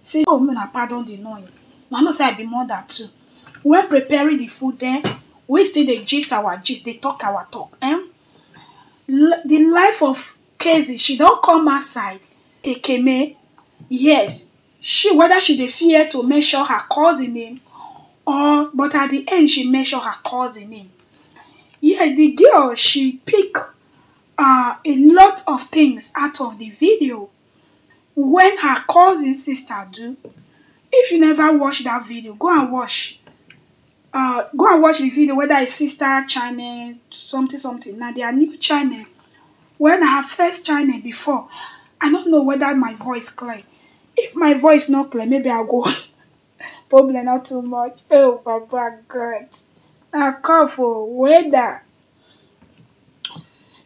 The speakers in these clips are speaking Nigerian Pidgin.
See oh make una pardon di noise, una know sey I be mother too. When preparing di food den we still dey gist our gist dey talk our talk um di life of Kezi she don come outside Ekene yes she whether she dey fear to mention her cousin name or but at di end she mention her cousin name. Yes di girl she pick um a lot of things out of di video wen her cousin sister do if you never watch dat video go and watch um go and watch di video weda her sister channel something something na dia new channel wen na her first channel before i no know weda my voice clear if my voice no clear maybe i go Problem no too much oh papa God na cough oh weather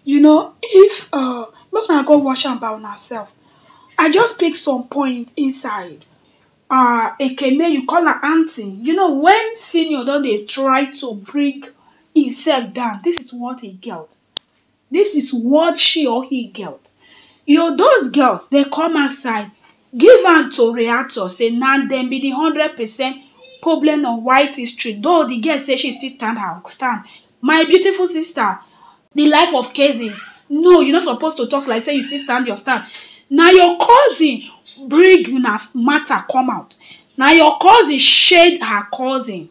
you know if um make una go watch am by una self I just pick some point inside um ekene you call am aunty you know when senior don dey try to bring himself down this is what he get This is what she or he gelt. Yo, those girls, they come outside, give am to reactor, say na dem be the hundred percent problem of white history. Though the girl say she still stand her stand. My beautiful sister, the life of cousin. No, you no suppose to talk like say you still stand your stand. Na your cousin bring una matter come out. Na your cousin shade her cousin.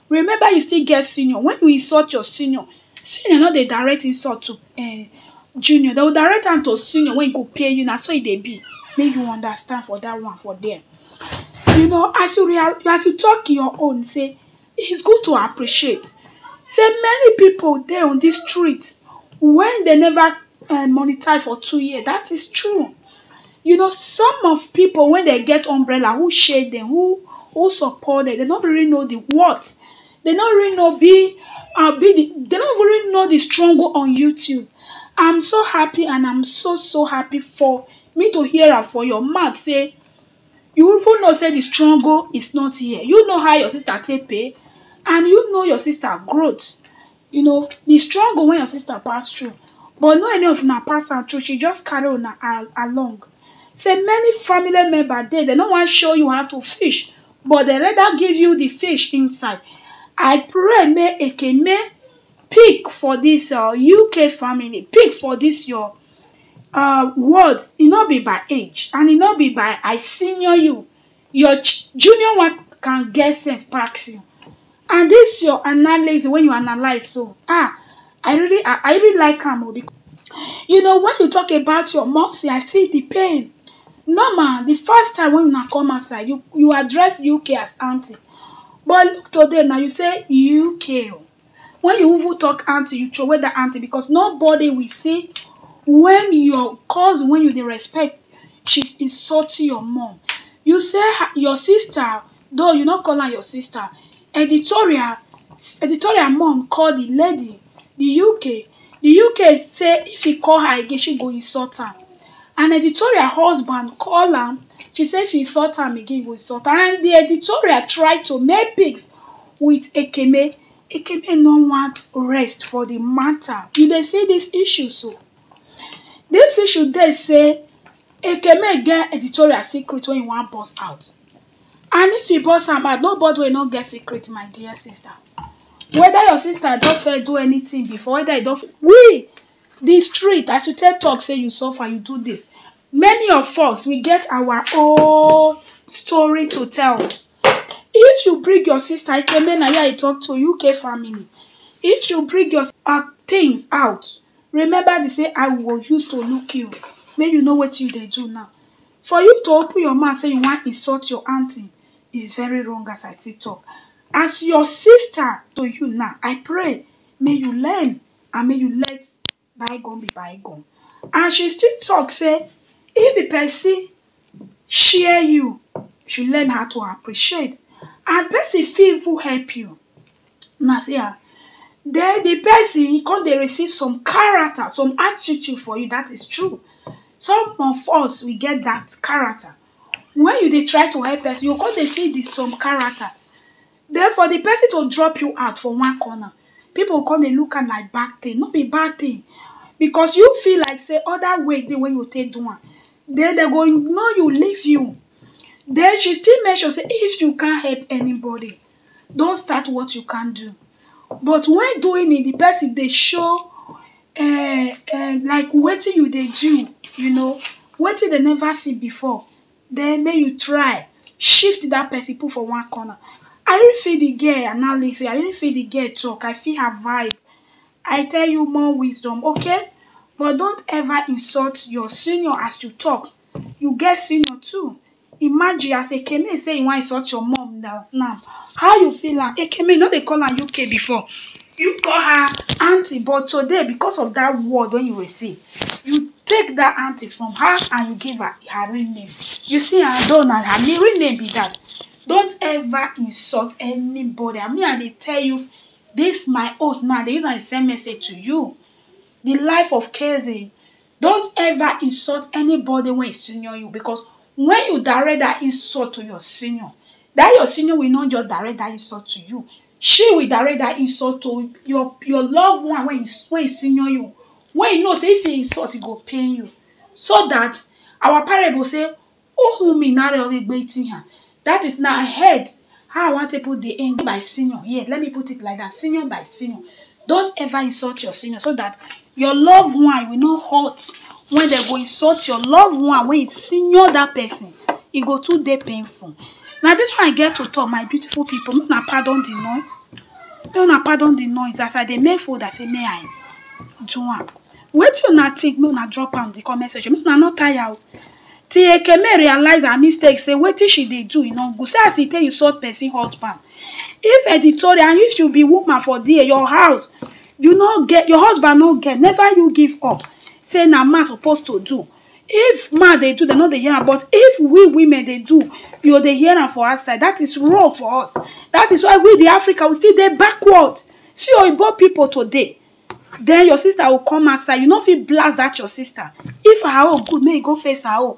Remember you still get senior, when you insult your senior, senior no dey direct insult to um junior, dem go direct am to senior wey go pay you, na so e dey be, make you understand for dat one for there. You know as you rea as you talk your own sey is good to appreciate sey many pipu dey on dis street wey dey never um monetize for two years dat is true. You know some of pipu wen dem get umbrella who shade dem who who support dem, dem no really know di worth dem no really know be um be di dem no even really know di struggle on YouTube am so happy and am so so happy for me to hear am for your mouth sey you even know sey di struggle is not here, you know how your sister take pay and you know your sister growth you know the struggle wey your sister pass through but no any of una pass am through she just carry una along say many family member dey dem no wan show you how to fish but dem rather give you the fish inside i pray make ekeme pick for this uh, uk family pick for this your uh, words e no be by age and e no be by i senior you your junior one can get sense pass you and this your analysis when you analyze so ah i really i, I really like am o because you know when you talk about your mercy i see the pain normal the first time when una come outside you you address uk as aunty but look today now you say uk o When you even talk aunty, you throway that aunty because nobody will see when your cousin when you dey respect, she's insulting your mom. You say your sister, though you not call her your sister, editorial, editorial mom call the lady, the UK. The UK say if he call her again, she go insult am. And editorial husband call am, she say if you insult am again, you go insult am. And the editorial try to make pigs with Ekene, Ekene no want rest for the matter. You dey see this issue so? This issue dey say Ekene get editorial secret wey he wan burst out. And if he burst am out, nobody wey no get secret, my dear sister. Whether your sister don first do anything before, whether you don we the street as you take talk say you suffer, you do this. Many of us we get our own story to tell. If you bring your sister Ikeme na ya I talk to UK family. If you bring your uh, things out, remember the say I will use to look you. Make you know what you dey do now. For you to open your mouth say you wan insult your aunty is very wrong as I see talk. As your sister to you now, I pray may you learn and may you let bygone be bygone and she still talk say if the person share you, you should learn how to appreciate and person fit even help you una see am then the person come dey receive some character some attitude for you that is true some of us we get that character when you dey try to help person you go come dey see the some character Den for di pesin to drop you out for one corner, pipu go kon dey look am like bad tin, no be bad tin because you feel like sey oda way dey wey you go take do am, den den go ignore you, leave you. Den she still mention sey if you can't help anybody, don't start what you can't do, but when doing it di pesin dey show um um like wetin you dey do, you know, wetin den neva see before, Then make you try shift that person put for one corner. I didn't feel the girl and now listen. I didn't feel the girl talk. I feel her vibe. I tell you more wisdom, okay? But don't ever insult your senior as you talk. You get senior too. Imagine as Ekeme say you want insult your mom now. now. How you feel am? Ekeme, you no dey call am UK before. you call her aunty but today because of that word when you were saying you take that aunty from her and you give her her real name you see am though na her real name be that don't ever insult anybody and me i dey tell you this my oath now i dey use am dey send message to you the life of kze don't ever insult anybody wey senior you because when you direct that insult to your senior that your senior will not just direct that insult to you Shey we direct dat insult to your your love one wey wey senior you, wey you know sey if you insult e go pain you, so dat our parent go sey dat is na head how I wan take put de end by senior, yes let me put it like dat senior by senior, don't ever insult your senior so dat Your loved one will not hurt when dem go insult your loved one when you senior that person. E go too dey painful. Na this one I get to talk, my beautiful people. Make una pardon the noise. Make una pardon the noise. As I dey make food, I say may I do am. Wetin una think? Make una drop am the comment section. Make una no tire o. Till Ekeme realize her mistake, say wetin she dey do e no good. See as e take insult person husband. If editorial, if you be woman for there, your house, you no get your husband no get never you give up say na man suppose to do if man dey do dem no dey hear am but if we women dey do you go dey hear am for outside that is wrong for us that is why we the africa we still dey backward see oyibo people today then your sister go come outside you no fit blast that your sister if her own good make you go face her own